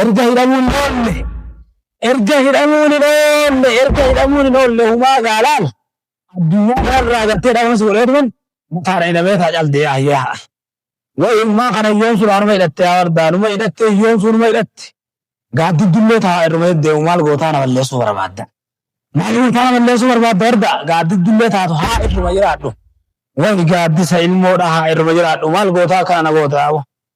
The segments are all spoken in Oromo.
Erga hidhamuun hin oolle, erga hidhamuun hin oolle, erga hidhamuun hin oolle humaa gaalaan addunyaa kanarraa gartee dhabamsi godhee tuman mataadha hidhamee taa caldee ayyaa. Wayi humaa kana yoon sun anuma hidhatte yaa wardaa numa hidhatte yoon sun numa hidhatte gaaddiddullee taa irruma deddeemu maal gootaa na balleessuu barbaadda. Maal gootaa na balleessuu barbaadda wardaa gaaddiddullee taatu haa irruma jiraadhu. Wayi gaaddisa ilmoodha haa irruma jiraadhu maal gootaa akkana na goota yaabo.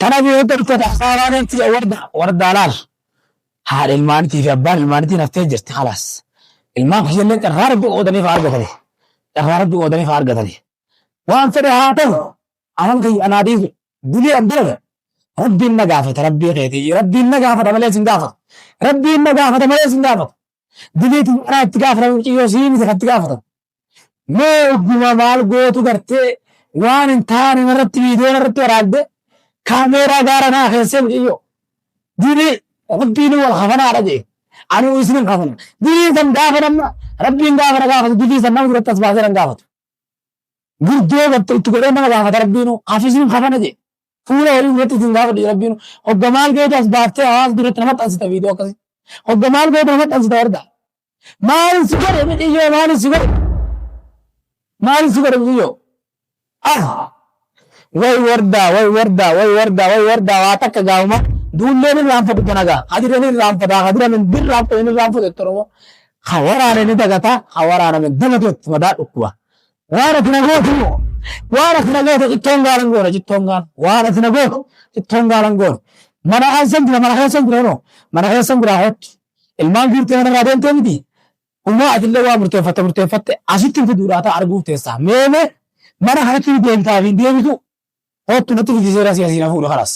Tanaaf yoo darbtata hasaaraa ganti ya warda wardaa laal haadha ilmaanitii fi abbaan ilmaanitii naftee jirti halaas ilmaan kiyyallee carraa rabbi qoodaniif haa argatani carraa rabbi qoodaniif haa argatani waan fedhe haa ta'u anan kiyya anaa dhiisu dilii an dalaga rabbiin na gaafata rabbii keetii rabbiin na gaafata malee sin gaafata rabbiin na gaafata malee sin gaafata dilii tiyya anaa itti gaafata mucayyoo sii miti kan itti gaafata Mee ogguma maal gootu gartee waan hin taane irratti viidiyoo irratti waraabde kaameeraa gaara naa keessee mucayyoo. Dini rabbiin wal kafanaadha jee. Anuu isin hin kafana. Dini san gaafa namma rabbiin gaafa na gaafatu dini san nama duratti as baasee nan gaafatu. Gurdoo gatte itti godhee nama gaafata rabbiin hafis hin kafana jee. Fuula horii duratti isin gaafadhu jedhe Rabbiin. Hogga maal gootu as baaftee hawaasa duratti na maxxansita viidiyoo akkasii. Hogga maal gootu na maxxansita warda. Maalin si godhe miciyyoo maalin si godhe. Maalin si godhe miciyyoo. Ah! Way wardaa way wardaa way wardaa way wardaa waa takka gaafuma. Duulleen irraanfatu danagaa. Hadiran irraanfataa hadiran hin birraanfatu hin irraanfatu jettoromoo. Ka waraane ni dagataa ka waraaname dagatu jetti madaa dhukkuba. Waan ati na gootu immoo waan ati na gootu cittoon gaalan goona cittoon gaala waan ati na gootu cittoon gaalan goona mana aansan jira mana keessan jira noo mana keessan jira hoottu ilmaan fiirtee mana irraa deemtee miti umaa ati illee waa murteeffatte murteeffatte asitti fiduudhaa ta'a arguuf teessaa meemee mana kanatti ni deemtaa fi deebitu hoottu natti fidisee rasii asii na fuudhu kanas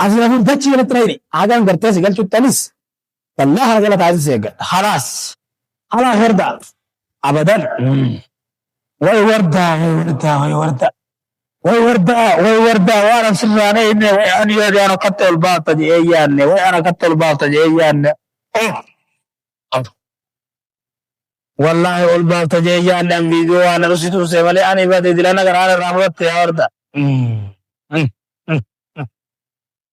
asii na fuudhu dachii kanatti na hidhi hagaan gartee si galchuttanis Bal'aa kana jala taa'insa eeggadha. Halaas. Halaas wardaa. Abadan. Way wardaa way wardaa way wardaa. Way wardaa way wardaa waan an sirraan eegne way an yaade an akkatti ol baafta jedhee yaadne way an akkatti ol baafta jedhee yaadne. Wallaahi ol baafta jedhee yaadne an viidiyoo waan irratti tuuse malee ani bade dilana garaan irraa fudhatte yaa wardaa.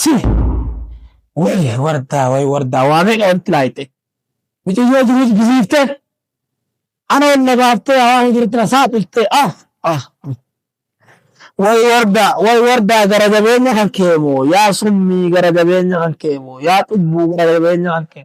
Si. Way wardaa way wardaa waa meeqa walitti laayte. Mucayyoo jiruus bisiifte. Ana ol na baaftee hawaa hin jirutti na saaxiltte. Ah ah. Way wardaa way wardaa gara jabeenya kan kee moo yaa summii gara jabeenya kan kee moo yaa cubbuu gara jabeenya kan kee.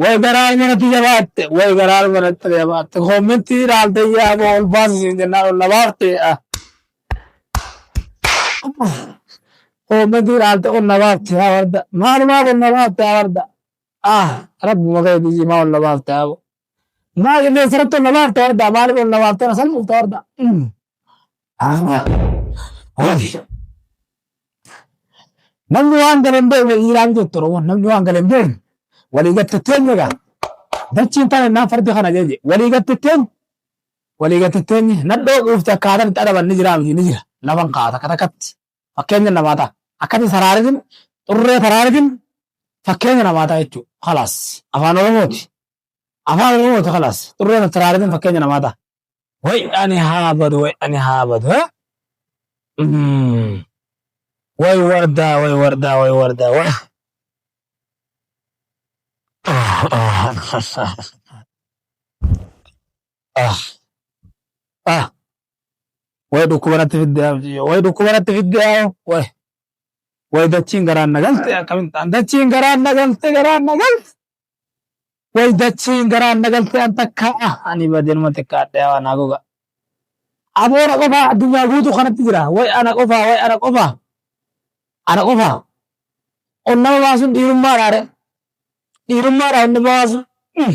Way garaa manatti jabaatte way garaa manatti jabaatte koommentii ilaaltee yaa boo ol baasi siin jennaan ol na baafte ah. koommentii ilaaltee ol na baafte yaa warda maalumaaf ol na baafte yaa warda ah rabbuma keetii jimaa ol na baafte yaa boo. Maa qilleensa irratti ol na baafta wardaa maaliif ol na baafta na salphifta wardaa. Namni waan gale hin beekne dhiiraa miti jetti Oromoon namni waan gale hin beekne walii gatte teenya gaa. Dachiin tana innaan fardi kana jeje walii gatte teenya walii gatte teenya nadhoo quufte akkaataan itti adaban ni jira miti ni jira lafan kaata katakatti. fakkeenya namaa ta'a. Akkati saraaritin xurree taraaritin fakkeenya namaa ta'a jechuudha. Kalaas afaan oromooti. Afaan oromooti kalaas xurree taraaritin fakkeenya namaa ta'a. Way ani haa badu way ani haa badu. eh? Mm. Way wardaa way wardaa way wardaa way. Ah. Ah. Way dhukkuba natti fidde yaa mucayyoo. Way dhukkuba natti fidde yaa way. Way dachiin garaan na galte akkamiin ta'an. Dachiin garaan na galte garaan na galte. Way dachiin garaan na galte an takka ah ani badenuma xiqqaadhe yaa waan haguuga. Aboora qofaa addunyaa guutuu kanatti jira. Way ana qofaa way ana qofaa. Ana qofaa. Onnama baasuun dhiirummaa dhaare. Dhiirummaa dhaa inni baasu. Mm.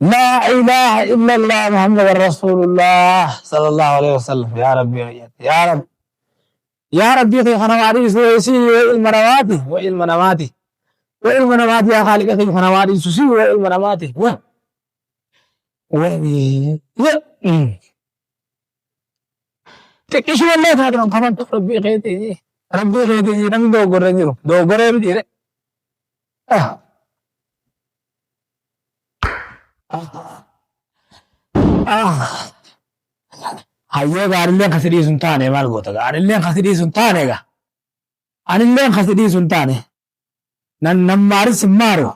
Laa ilaaha illallah Muhammadan Rasuulullah sallallahu alaihi wasallam yaa rabbii wayyatti yaa rabbi yaa rabbii kee kana waa dhiisu isii yoo ilma namaati wa ilma namaati wa ilma namaati yaa khaaliqa kee kana waa dhiisu isii yoo ilma namaati wa wa Xiqqishuma illee taate kan kafaltu rabbii keetii rabbii keetii namni dogoggorra hin jiru dogoggoree miti jedhe. Hayyee gaarilleen kasi dhiisu hin taane maal goota gaarilleen kasi dhiisu hin taane egaa anilleen kasi dhiisu hin taane nan nan maarin sin maaru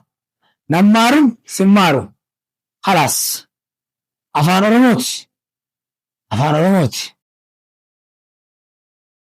nan maarin sin maaru khalaas. Afaan Oromooti! Afaan Oromooti!